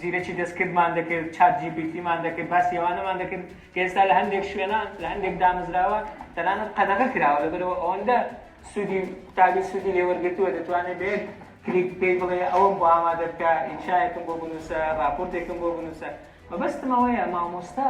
زیرەکی دەستکردمان دەکرد، چات جی پی تیمان دەکرد، باسی ئەوانەمان دەکرد کە ئێستا لە هەندێک شوێنان، لە هەندێک دامەزراوە تەنانەت قەدەغە کراوە، لەبەرئەوە ئەوەندە سوودی قوتابی سوودی لێ وەرگرتووە، دەتوانێت بە یەک کلیک پێی بڵێ ئەوەم بۆ ئامادە بکە، ئینشایەکم بۆ بنووسە، ڕاپۆرتێکم بۆ بنووسە. مەبەستم ئەوەیە مامۆستا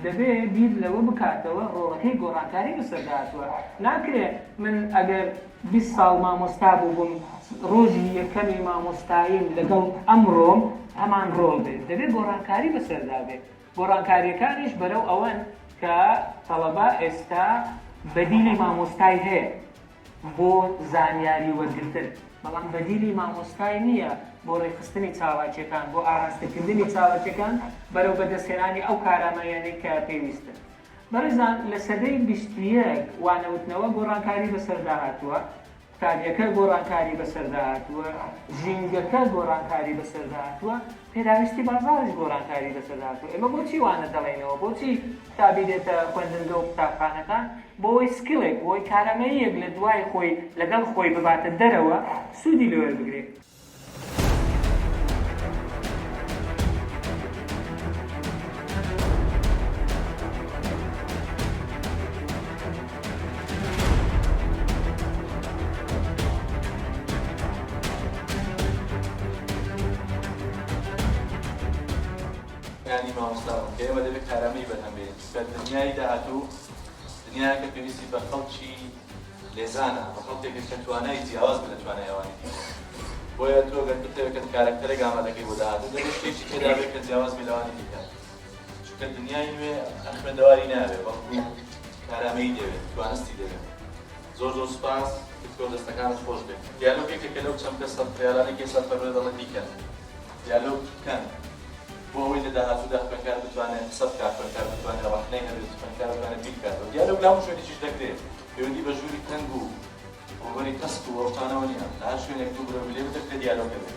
دەبێ بیر لەوە بکاتەوە ڕۆڵەکەی گۆڕانکاری لەسەر داهاتووە، ناکرێ من ئەگەر بیست ساڵ مامۆستا بووبم، ڕۆژی یەکەمی مامۆستاییم لەگەڵ ئەمڕۆم هەمان ڕۆڵ بێ، دەبێ گۆڕانکاری بەسەردا بێ، گۆڕانکارییەکانیش بەرەو ئەوەن کە تەڵەبە ئێستا بەدیلی مامۆستای هەیە، بۆ زانیاری وەرگرتن بەڵام بەدیلی مامۆستای نییە بۆ ڕێکخستنی چالاکییەکان بۆ ئاراستەکردنی چالاکییەکان بەرەو بەدەستهێنانی ئەو کارامەییانەی کە پێویستن بەڕێزان لە سەدەی بیست و یەک وانەوتنەوە گۆڕانکاری بەسەردا هاتووە قوتابیەکە گۆڕانکاری بەسەردا هاتووە ژینگەکە گۆڕانکاری بەسەردا هاتووە پێداویستی بازاڕیش گۆڕانکاری بەسەردا هاتووە، ئێمە بۆچی وانە دەڵێینەوە، بۆچی قوتابی دێتە خوێندنگە و قوتابخانەکان، بۆوەی سکیڵێک، بۆوەی کارامەییەک لە دوای خۆی، لەگەڵ خۆی بباتە دەرەوە، سوودی لێ وەربگرێ. یانی مامۆستا بوون کە ئێمە دەبێت کارامەیی بەرهەم بێنین چونکە دنیای داهاتوو دنیایەکە پێویستی بە خەڵکی لێزانە بە خەڵکێکە کە توانای جیاواز بێت لە توانای ئەوانی دیکە بۆیە تۆ گەر بتەوێت کە کارەکتەرێک ئامادەکەی بۆ داهاتوو دەبێت شتێکی تێدا بێت کە جیاواز بێت لەوانی دیکە چونکە دنیای نوێ هەر خوێندەواری ناوێ بەڵکو کارامەیی دەوێت توانستی دەوێت زۆر زۆر سوپاس دکتۆر دەستەکانت خۆش بێت دیالۆگ یەکێکە لەو چەم کەس سەد خەیارانێک ئێستا فەرمێ دەڵێ بیکەن دیالۆگ بکەن بۆ ئەوەی لە داهاتوودا خوێندکار بتوانێت قسە بکات خوێندکار بتوانێت ڕەخنەی هەبێت خوێندکار بتوانێت بیر بکاتەوە دیالۆگ لە هەموو شوێنێکیش دەکرێت پەیوەندی بە ژووری تەنگ و ڕووبەری تەسک و ئەو شتانەوە نییە لە هەر شوێنێک دوو برەو لێ بدەکرێت دیالۆگ دەبێت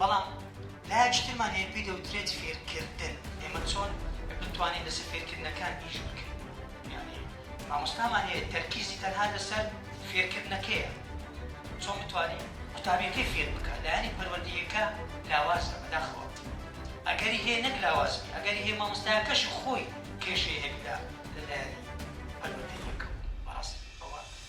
بەڵام لایەکی ترمان هەیە پێی دەوترێت فێرکردن، ئێمە چۆن بتوانین لەسەر فێرکردنەکان ئیش بکەین، یانی مامۆستامان هەیە تەرکیزی تەنها لەسەر فێرکردنەکەیە، چۆن بتوانین قوتابیەکەی فێر بکات، لایەنی پەروەردەییەکە لاوازە، بەداخەوە ئەگەری هەیە نەک لاواز بێت، ئەگەری هەیە مامۆستایەکەشی خۆی کێشەی هەبیت لە لایەنی پەروەردەییەکەوە، بەڕاستی ئەوە.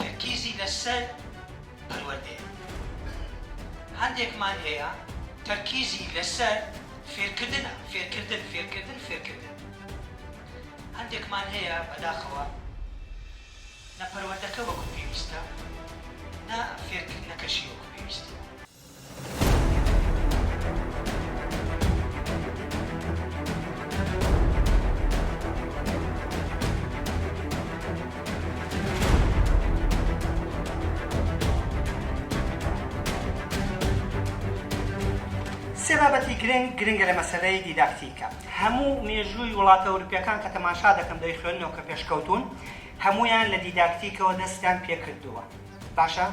تەرکیزی لەسەر پەروەردەیە. من هەندێکمان هەیە تەرکیزی لەسەر فێرکردنە، فێرکردن، فێرکردن، فێرکردن. هەندێکمان هەیە بەداخەوە نە پەروەردەکە وەکو پێویستە، نە فێرکردنەکەشی وەکو پێویستە. سێ بابەتی گرنگ گرنگە لە مەسەلەی دیداکتیکە. هەموو مێژووی وڵاتە ئەوروپیەکان کە تەماشا دەکەم دەیخوێننەوە کە پێشکەوتوون هەموویان لە دیداکتیکەوە دەستیان پێکردووە باشە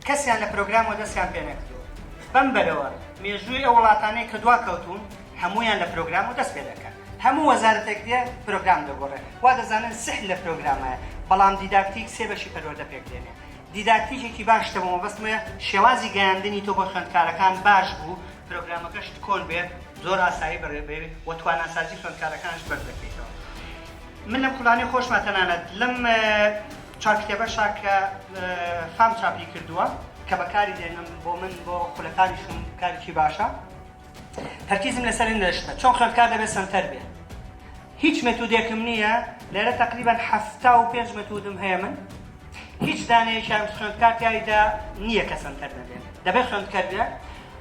کەسیان لە پرۆگرام وەدەستیان پێ نەکردووە بەم بەرەوە مێژووی ئەو وڵاتانەی کە دوا کەوتون هەمویان لە پرۆگرام وەدەست پێ دەکەن هەموو وەزارەتێک دێ پرۆگرام دەگۆڕێ وا دەزانن سحر لە پرۆگرامایە بەڵام دیداکتیک سێ بەشی پەروەردە پێک دێنێ دیداکتیکێکی باش شتە بۆ مەبەستمە شێوازی گەیاندنی تۆ بۆ خوێندکارەکان باش بوو پرۆگرامەکەشت کۆن بێ زۆر ئاسایی بەڕێ بێ و تواناسازی خوێندکارەکانش بەرز دەکەیتەوە من لەم خولانەی خۆشمە تەنانەت لەم چاککتێبەشە کە فام چاپی کردووە کە بەکاری دێنم بۆ من بۆ خولەکانیشم کارێکی باشە تەرکیزم لەسەر نوێشتە چۆن خوێندکار دەبێت سەنتەر بێ هیچ مێتودێکم نییە لێرە تقریبا هەفتا و پێنج مەتودم هەیە من هیچ دانەیەکیان خوێندکار تایدا نییە کە سەنتەر نەبێت دەبێت خوێندکەر بێت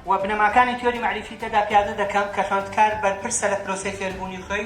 و بنەماکانی تیۆری مەعریفی تێدا پیادە دەکەم کە خوێندکار بەرپرسە لە پرۆسەی فێربوونی خۆی